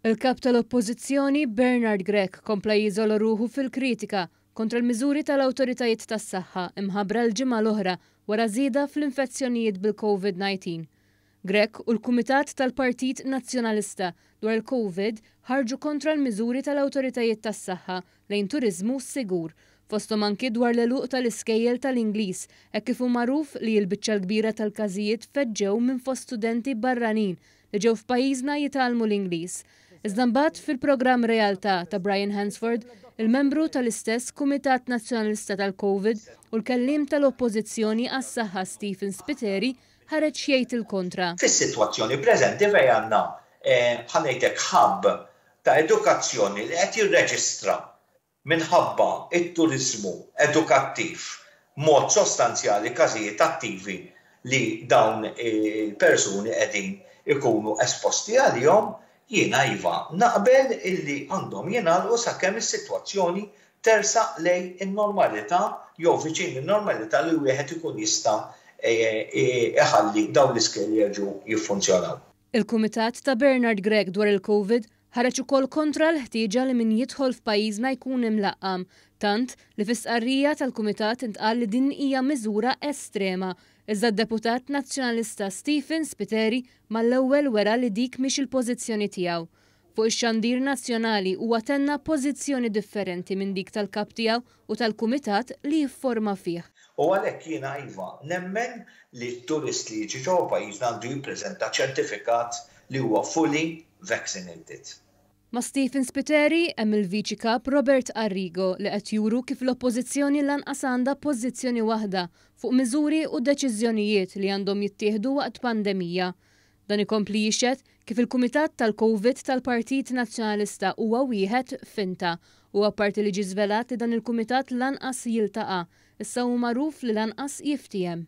Il-Kap tal-Oppożizzjoni, Bernard Grech kompla jiżola ruħu fil-kritika kontra l-miżuri tal-awtoritajiet tas-saħħa mħabbra l-ġimgħa l-oħra wara żieda fl-infezzjonijiet bil-Covid-19. Grech u l-Kumitat tal-Partit Nazzjonalista dwar il-Covid ħarġu kontra l-miżuri tal-awtoritajiet tas-saħħa lejn turiżmu sigur, fosthom anki dwar l-għeluq tal-iskejjel tal-Ingliż hekk kif hu magħruf li l-biċċa l-kbira tal-każijiet feġġew minn fost studenti barranin li ġew f'pajjiżna jitgħallmu l-Ingliż. Iżda mbagħad fil-programm Realtà ta' Brian Hansford, il-membru tal-istess Kumitat Nazzjonalista tal-Covid u l-Kelliem tal-Oppożizzjoni għas-Saħħa Stephen Spiteri ħareġ jgħid il-kontra. Fis-sitwazzjoni preżenti fejn għandna, bħal ngħidlek hub ta' edukazzjoni li qed jirreġistra minħabba t-turiżmu edukattiv b'mod sostanzjali każijiet attivi li dawn il-persuni qegħdin ikunu esposti għalihom, jiena iva naqbel illi għandhom jingħalqu sakemm is-sitwazzjoni tersaq lejn in-normalità jew viċin in-normalità li wieħed ikun jista' iħalli dawn l-iskejjel jerġgħu jiffunzjonaw. Il-Kumitat ta' Bernard Grech dwar il-Covid ħareġ ukoll kontra l-ħtieġa li min jidħol f'pajjiżna jkun imlaqqam, tant li fi stqarrija tal-Kumitat intqal li din hija miżura estrema, iżda d-Deputat Nazzjonalista Stephen Spiteri mal-ewwel wera li dik mhix il-pożizzjoni tiegħu. Fuq ix-xandir nazzjonali huwa tenna pożizzjoni differenti minn dik tal-Kap tiegħu u tal-Kumitat li jifforma fih. U għalhekk jiena iva, nemmen li t-turist li jiġi ġewwa pajjiżna għandu jippreżenta ċertifikat li huwa fully vaccinated. Ma' Stephen Spiteri hemm il-Viċi Kap Robert Arrigo li qed juru kif l-Oppożizzjoni lanqas għandha pożizzjoni waħda fuq miżuri u deċiżjonijiet li għandhom jittieħdu waqt pandemija. Dan ikompli jixhed kif il-Kumitat tal-Covid tal-Partit Nazzjonalista huwa wieħed finta u apparti li ġie żvelat li dan il-Kumitat lanqas jiltaqa', issa hu magħruf li lanqas jiftiehem.